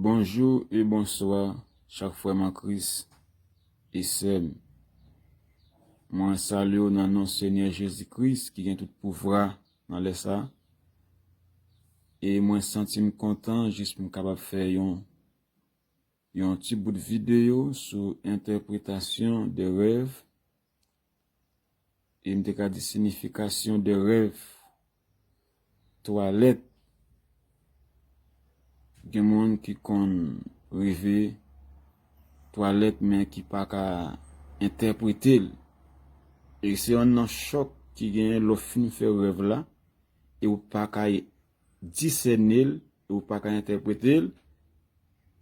Bonjou e bonswa chak frèm an kris e sèm mwen salyew nan non senyè jezi kris ki gen tout pouvra nan lè sa e mwen santim kontan jis m kapab fè yon Yon ti bout videyo sou entèpretasyon de rèv e m te ka di sinifikasyon de rèv. Twalèt, gen moun ki konn reve twalèt men ki pa ka entèprete l. E se yon nan chòk ki genyen lè w fin fè rèv la e w pa ka disène l e ou pa ka entèprete l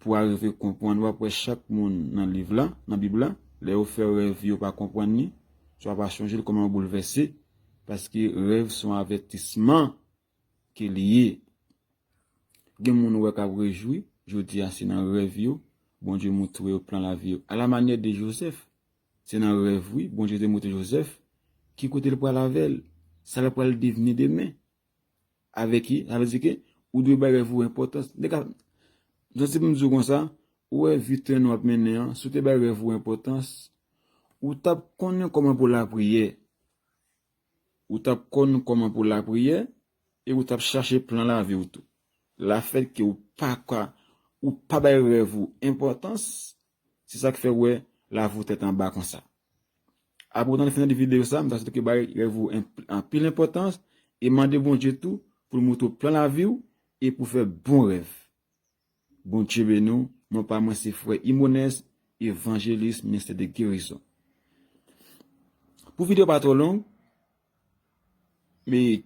pou arive konprann. W ap wè chak moun nan liv la, nan Bib la, lè yo fè rèv yo pa konprann li, swa pa chonje l, kòman yo boulvèse, paske rèv s on avètisman ke li ye. Gen moun ou wè k ap rejwi jodi a, se nan rèv yo Bondye moutre yo plan lavi yo. Alamanyè de Jozèf, se nan rèv wi Bondye te moutre Jozèf ki kote l pral avè l, sa l pral devni demen. avèk li, sa vle di ke ou dwe bay rèv ou enpòtans. Nèg ap, m santi pou m di w konsa, ou wè vi tren nou ap mennen an, si w te bay rèv ou enpòtans, ou t ap konnen kòman pou lapriyè, ou t ap konn kòman pou lapriyè e ou t ap chache plan lavi w tou. Lafètke ou pa ka, ou pa bay rèv ou enpòtans, Se sak fè ou wè Lavo tèt anba konsa. Apre ou tande fini de video sa, m ta swete ke bay rèv ou anpil enpòtans e mande Bondye tou pou l moutre w plan lavi w e pou w fè bon rèv. Bondye beni w, non pa mwen se frè Ymonès, evanjelis ministè de gerizon. Pou video pa twò long, Me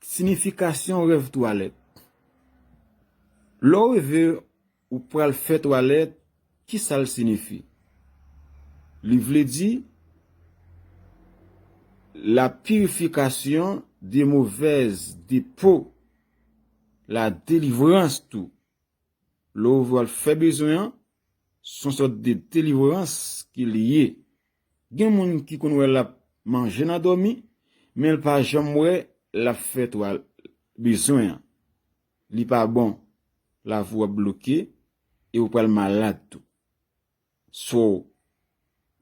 sinifikasyon rèv twalèt. Lè w reve ou pral fè twalèt, ki sa l sinifi? Li vle di, la pirifikasyon de movèz depo, la delivrans tou. Lè w vwal fè bezwen an, son sòt de delivrans ke li ye. Gen moun ki konn wè lap manje nan dòmi menl pa janm wè lap fè twal bezwen an li pa bon lavi w ap bloke e ou pral malad tou so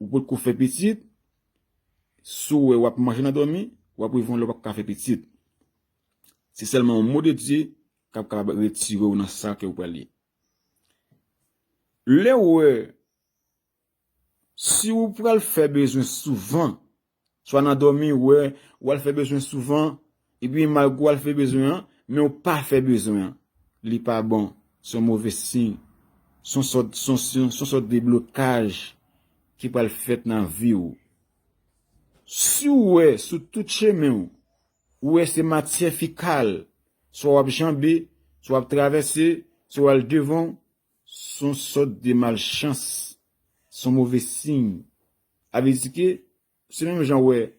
ou potko fè pitit si w wè wap manje nan dòmi wap rive yon lè ou pap ka fè pitit se sèlman yon mo de Dye kap kapab retire w nan sa ke ou pral ye lè ou wè. Si ou pral fè bezwen souvan, swa nan dòmi ou wè ou al fè bezwen souvan, epi malgre ou al fè bezwen an, men ou pa fè bezwen an, li pa bon, se yon move siy, se yon sòt, se yon sòt de blokaj ki pral fèt nan vi ou. Si ou wè sou tout chemen ou, ou wè se matyè fikal, swa w ap janbe, swa w ap travèse, swa w al devan, Son sòt de malchans, son move siy. A vle di ke, se menm jan wè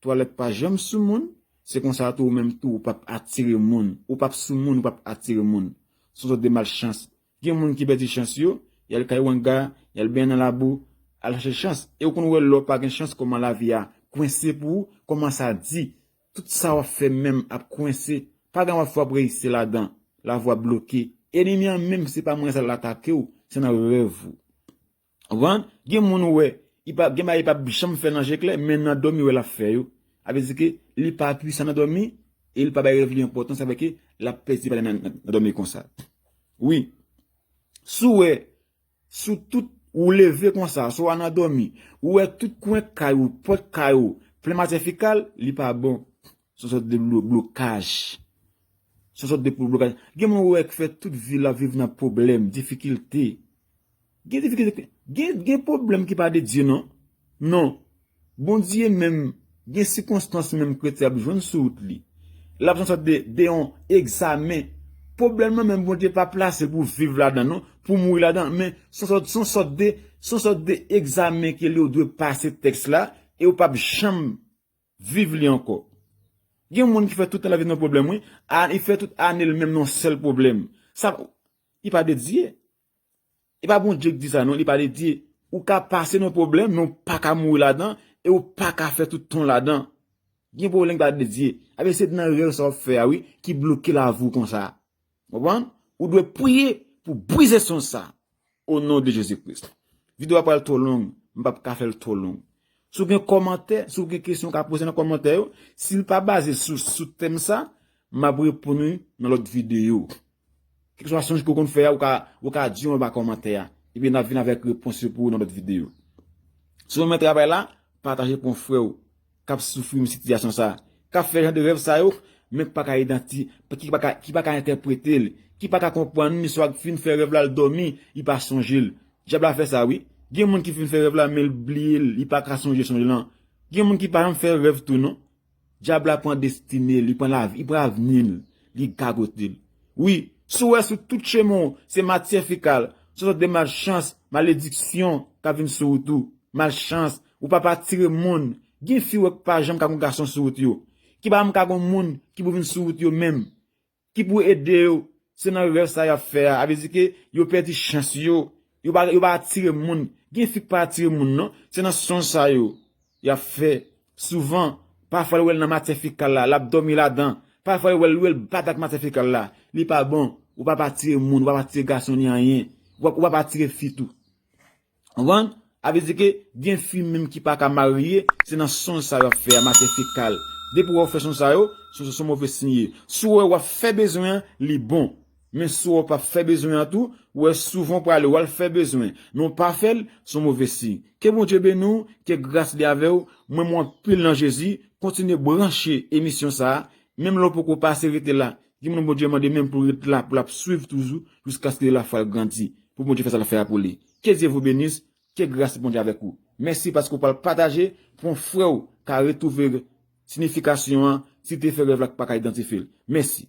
twalèt pa janm sou moun, se konsa tou ou menm tou ou pap atire moun, ou pap sou moun ou pap atire moun. Son sòt de malchans. Gen moun ki pèdi chans yo, yal kay wanga, yal benyen nan labou, al chache chans. E ou konn wè lè w pa gen chans kòman lavi a kwense pou ou, kòman sa di Tout sa wap fè menm ap kwense pa gen wap fè wap reyisi ladan la vwa bloke enemi an menm se pa mwen sa la atakew se nan rèv ou konprann gen moun ou wè gen bagay li pap janm fè nan je klè men nan dòmi ou wè lap fè yo sa vle di ke li pa pwisan nan dòmi e li pa bay rèv li enpòtans sa vle ke lap pèdi bagay nan dòmi konsa wi si w wè Sou tout, ou leve konsa, swa w nan dòmi, ou wè tout kwen kay ou, pòt kay ou, plen matyè fekal, li pa bon. Son sòt de blokaj. Son sòt de blokaj. Gen moun ou wè k fè tout vi l ap viv nan pwoblèm, difikilte. Gen difikilte, gen pwoblèm ki pa de Dye non. Non. Bondye menm, gen sikonstans menm kretyen ap jwenn sou wout li. L ap sòt de yon egzamen. Pwoblèm nan menm Bondye pa plase pou viv ladan l non, pou mouri ladan l. Men, son sòt, son sòt de, son sòt de egzamen ke li ou dwe pase tèks la e ou p ap janm viv li ankò. Gen moun ki fè tout tan lavi l nan yon pwoblèm wi. A, li fè tout ane l menm nan yon sèl pwoblèm. Sa, li pa dedye. E pa Bondye ki di sa non, li pale di ou ka pase nan yon pwoblèm men ou pa ka mouri ladan e ou pa ka fè tout tan w ladan. Gen pwoblèm ki pa de Dye. Ebyen se nan rèv sa w ap fè a wi ki bloke lavi w konsa. Ou konprann? Ou dwe priye pou brize sons sa o non de Jezi Kris. Video a pral twò long, m pap ka fè l twò long. Si w gen kòmantè, si w gen kesyon w ka poze nan kòmantè yo, si l pa baze sou tèm sa, m ap reponn ou nan lòt video. Kèlkeswa sonj ke w konn fè a, ou ka di yo anba kòmantè a, epi n ap vin avèk repons yo pou ou nan lòt videyo. Si w renmen travay la, pataje pou yon frè w k ap soufri menm sitiyasyon sa a, k ap fè jan de rèv sa yo, men ki pa ka idanti, ki pa ka entèprete l, ki pa ka konprann li, swa ki fin fè rèv la l dòmi, li pa sonje l. Dyab la fè sa wi. Gen moun ki fin fè rèv la men l bliye l, li pa ka sonje sonj lan. Gen moun ki pa janm fè rèv tou non, Dyab la pran destine l, li pran lavi, li pran avni l, li gagote l. Wi, si w wè sou tout chemen w se matyè fekal, se yon sòt de malchans, malediksyon k ap vin sou ou tou. Malchans, ou p ap atire moun. Gen fi w wè ki pa janm ka gen yon gason sou wout yo. Ki pa janm ka gen yon moun ki pou vin sou wout yo menm. Ki pou ede yo, se nan rèv sa yap fè a, a vle di ke yo pèdi chans yo, yo pa yo pa atire moun, gen fi ki pa atire moun non, se nan sonj sa yo, yap fè, souvan, pafwa li wèl nan matyè fekal la, lap dòmi ladan, pafwa li wèl, li wèl bat ak matyè fekal la, li pa bon, ou pap atire moun, ou pap atire gason ni anyen, ou pap atire fi tou. Konprann? A vle di ke gen fi menm ki pa ka marye, se nan sonj sa yo ap fè a, matyè fekal. Depi ou wè yo fè sonj sa yo, sonj sa son move siy ye. Si ou wè wap fè bezwen an, li bon. Men si ou wè ou pap fè bezwen an tou, ou wè souvan ou prale wal fè bezwen, men ou pa fèl, son move siy. Ke Bondye beni w, ke gras li avè w, m renmen w anpil nan Jezi, kontinye branche emisyon sa, menm lè ou poko pase rete la, Gen moun Bondye mande menm pou ret la pou lap swiv toujou jiskaske la fwal grandi pou Bondye fè sal fè a pou li ke Dye vou benis ke gras Bondye avèk ou mèsi paske ou pral pataje pou yon frèw ka retwouve sinifikasyon an si te fè rèv la k paka idantifyel mèsi.